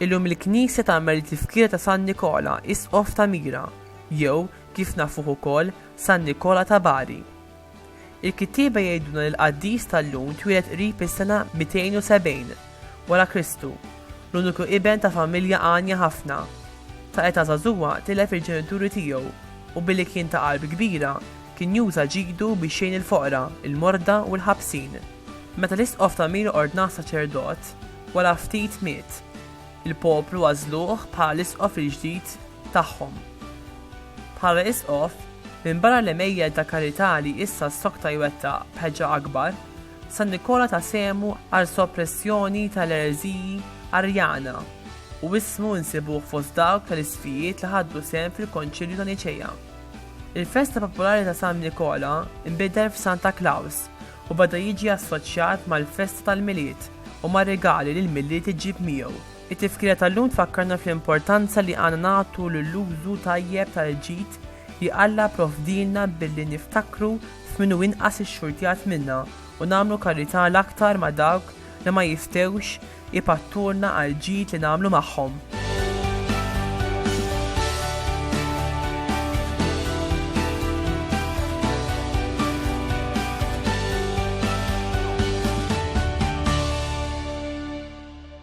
Illum il-Knisja tagħmel it-tifkira ta' San Nikola, Isqof ta' Mira, jew kif nafuh ukoll San Nikola ta' Bari. Il-kittieba jgħidulna li l-qaddis tal-lum twieled qrib is-sena 270 wara Kristu, l-uniku iben ta' familja għanja ħafna. Ta' età żagħżugħa tilef il-ġenituri tiegħu u billi kien ta' qalb kbira, kien juża ġidu biex jgħin il-foqra, il-morda u l-ħabsin. Meta l-isqof ta' Mira ordnah saċerdot, wara ftit miet. Il-poplu għażluh bħala l-isqof il-ġdid. tagħhom. Bħala Isqof, minbarra l-għemejjel ta' karità li issa ssokta jwettaq b'ħeġġa akbar, San Nikola ta sehmu għall-soppressjoni ta' l-ereżiji Arjana u ismu nsibuh fost dawk ta' l-isqfijiet li ħaddu sehem fil-Konċilju ta' Niċea. Il-festa popolari ta' San Nikola nbidel f'Santa Klaws u beda jiġi assoċjat mal-festa tal-Milied u mar-rigali li l-Milied iġġib miegħu. It-tifkira tal-lum tfakkarna fl-importanza li għandna nagħtu lill-użu tajjeb tal-ġid li Alla pprovdielna billi niftakru f'min hu inqas ixxurtjat minna u nagħmlu karità l-aktar ma' dawk li ma jistgħux ipattulna għall-ġid li nagħmlu magħhom.